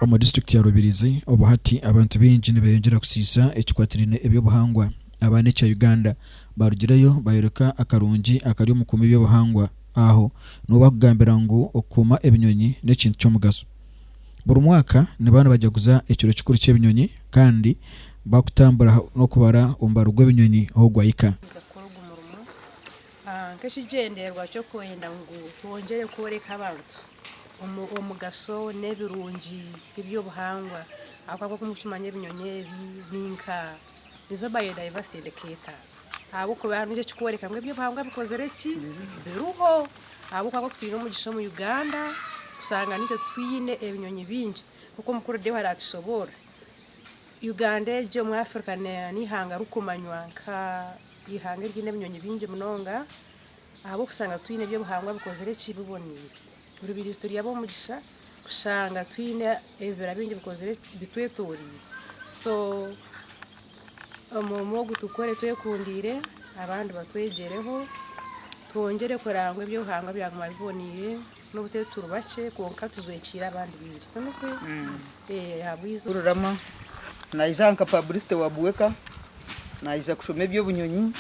Omu disiturikiti ya Rubirizi obu hati abantu baingi nibeyongyera kusiisa ekikwatirine eby'obuhangwa. Abaana ekya Uganda barugireyo bayoreka akarungi akari omu kukuuma eby'obuhangwa. Aho niho bakugambira ngu okukuuma ebinyonyi n'ekintu ky'omugaso. Buri mwaka nibaba nibajaguza ekiro kikuru ky'ebinyonyi kandi bakutambura n'okubara omubaro gw'ebinyonyi ahu gwahika. Nibaija kukora ogu murimo nk'ekigyendererwa ky'okwenda ngu twongyere kworeka abantu omugasho n'ebirungi eby'obuhangwa ahabw'okuba nk'oku mukimanya ebinyonyi ebi ni nka nizo baine diversity educators ahabw'okuba nikyo ekikworeka ngu eby'obuhangwa bikozire ki biriho ahabw'okuba nk'oku twine omugisha omu Uganda kushanga naitwe twine ebinyonyi bingi nk'oku omukuru Deo araatushoboorore. Uganda egi omu Africa n'eihanga ririkumanywa nka eihanga eriine ebinyonyi bingi munonga ahabw'okushanga twine eby'obuhangwa bikozire ki biboneire. Buri baitu turi ab'omugisha kushanga twine ebibira bingi bikozire bitwetoreire so omurimo ogu tukore twekundiire abandi batwegyereho twongyere kurangwa ebi Ruhanga byaguma biboneire nobu turi turi bakye kwonka tujwekiire abandi baingi tinikwo? ahabweizo Rurama naija nka publicity wa Buweka naija kushoma eby'obunyonyi.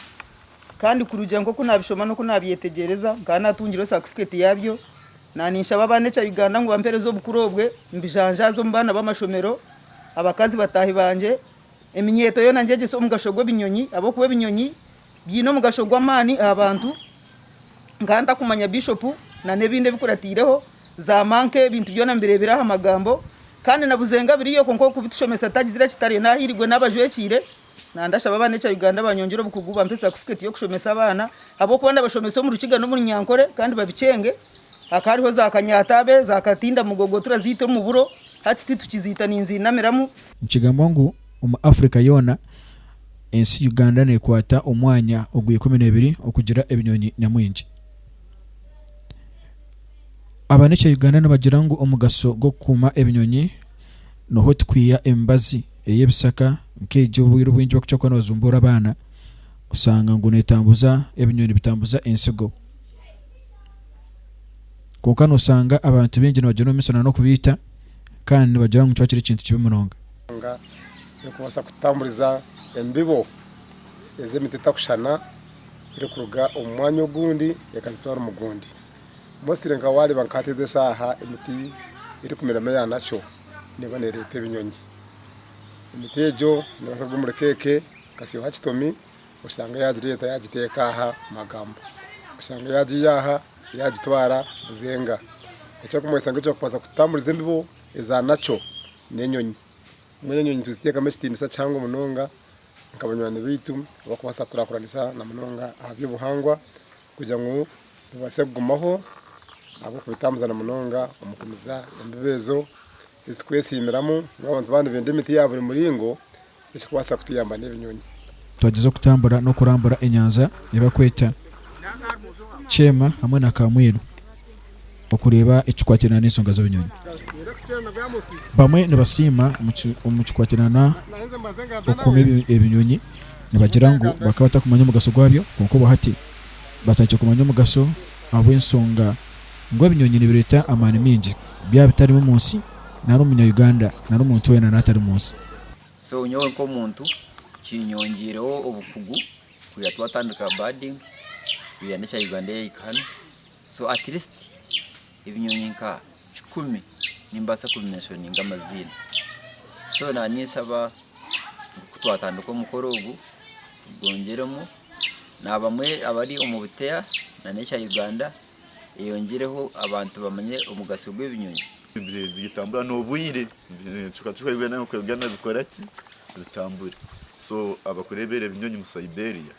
Kandi kurugiirira nk'oku naabishoma n'oku naabyetegyereza, nkaba naatungireho satifiketi yaabyo. Naaninshaba abaana ekya Uganda ngu bampeereze obukuru obwe, mbijanjaaze omu baana b'amashomero, abakazi bataahi bangye. Eminyeeto yoona ngyegyese omugasho gw'ebinyonyi ahabw'okuba ebinyonyi biine omugasho gw'amaani aha bantu. Nkaba ntakumanya Bishopu nan'ebindi ebikuratiireho, zaamanka ebintu byona mbireebire aha magambo. Kandi nabuze ngu abiriyo kwonka ow'okubitushomesa tagizire eki tariyo. Naahirigwe n'abajwekiire Nandashaba abana ekya Uganda banyongyere obukugu bampe satifikeeti y'okushomesa abaana ahabw'okuba ndabashomesa omu Rukiga n'omu Runyankore kandi babikyenge. Hakaba hariho za kanyatabe, za katindamugogo turaziita omu buro, hati tu tukiziita ninziinamiramu. Nikigambwa ngu omu Afrika yoona, ensi Uganda neekwata omwanya ogw'ikumi n'ebiri okugira ebinyonyi nyamwingi. Abana ekya Uganda nibagira ngu omugasho gw'okukuuma ebinyonyi noho tikwiha emibazi. ey'ebishaka nk'egi obwire obwingi bakukira kuba nibazumbuura abaana oshanga ngu netambuza ebinyonyi bitambuza entsigo kwonka noshanga abantu baingi nibagenda omumisho na n'okubiita kandi nibagira ngu nikiba kiri ekintu kibi munonga. Enshonga erikubaasa kututamburiza embibo ez'emiti etakushushana erikuruga omu mwanya ogundi ekazitwara omu gundi. Mostly nka wareba nka hati ezi esaaha emiti erikumeramu eya natural neeba nereeta ebinyonyi. Emiti egyo nebaasa kuruga omuri cake, okasyaho aha kitomi oshange yagireeta yagiteeka aha magamba. Oshange yagiiya aha yagitwara buzenga. Ekirikumanyisa ngu ekirikubaasa kutamburiza embibo eza natural n'enyonyi. Mbwenu enyonyi nituziteekamu ekitiinisa kihango munonga nka banywani baitu abarikubaasa kukurakuranisa na munonga aha by'obuhangwa kugira ngu tubaase kugumaho ahabw'okubitambazana munonga omu kumiza embibo ezo ezi twesiimiramu ngu abantu baaba nibenda emiti ya buri muringo ekikubaasa kutuyamba n'ebinyonyi. Twagyezaho kutambura n'okurambura enyanja ei barikweta Kyema hamwe na Kamwiru. okureeba ekikwatirana n'ensonga z'ebinyonyi. Bamwe nibasiima omu kikwatirana okukuuma ebinyonyi nibagira ngu bakaba batakumanya omugasho gwabyo kwonka obu hati batandikire kumanya omugasho ahabw'ensonga ngu ebinyonyi nibireeta amaani maingi byaba bitarimu omu nsi nari omu Munya-Uganda nari omuntu weena nari atari omu nsi. So nyowe nk'omuntu kinyongiireho obukugu kuhika twatandika birding kuhika n'ekya Uganda yahika hanu. So at least ebinyonyi nka kikumi nimbaasa kubi menshoninga amaziina. So na ninshaba ngu ku twatandika omukoro ogu tugongyeremu na abamwe abari omu buteya na n'ekya Uganda eyongyereho abantu bamanye omugasyo gw'ebinyonyi. Bitambura n'obwire ebicweka cweka Uganda nka Uganda bikora ki bitambure. So abakureebera ebinyonyi mu Siberia.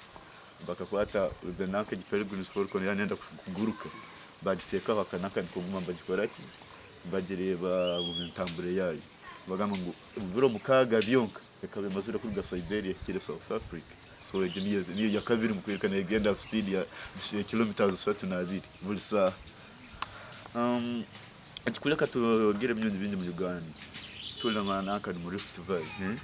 Bakakwata nanka egi Peregrines Falcon yaaba neeyenda kuguruka, baagiteeka aha kananka nikaguma nibagikora ki? Nibagireeba buri ntambura yaayo. Nibagamba ngu omu biro mukaaga byonka ekaba emazire kuruga Siberia ehikire South Africa. So egi niyo ya kabiri nikworeka neegenda aha sipiidi ya kilometres ishatu na abiri buri shaaha. Ekikureka twogere ebinyonyi bingi mu Uganda twine nka nanka ni mu Rift Valley eh?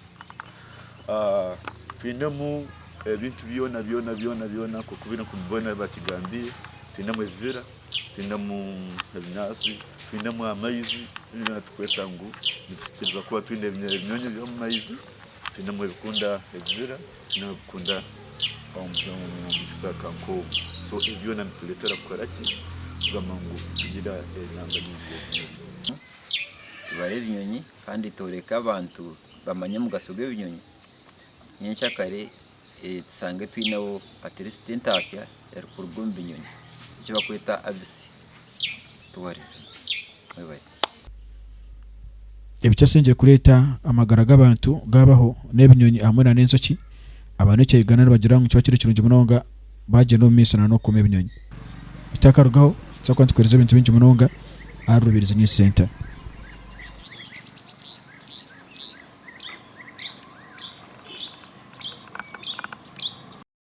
Ah, twinemu ebintu byona byona byona byona nk'oku biri nk'omu boona bakigambire twinemu ebibira twinemu ebinyaatsi twinemu amaizi binu byona tukweta ngu nitusikiriza kuba twine ebinyonyi ebinyonyi by'omu maizi twinemu ebikunda ebibira nabikunda omu kishaka nk'omu so ebi byona nitureetera kukora ki kugamba ngu tugira enanga nyingi tubare ebinyonyi kandi tworeke abantu bamanye omugasho gw'ebinyonyi nyenkya kare tushange twineho atirisiti entaasya erikuruga omu binyonyi eki bakweta abisi Ebikyasingire kureeta amagara g'abantu gaabaho n'ebinyonyi hamwe n'enjoki. Abanooki a Uganda nibagira ngu nikiba kiri kirungi munonga baagyenda omu maiso n'okukuuma ebinyonyi. Bitakarugaho, nitubaasa kuba nitukooreza ebintu bingi munonga ahari Rubirizi News Centre.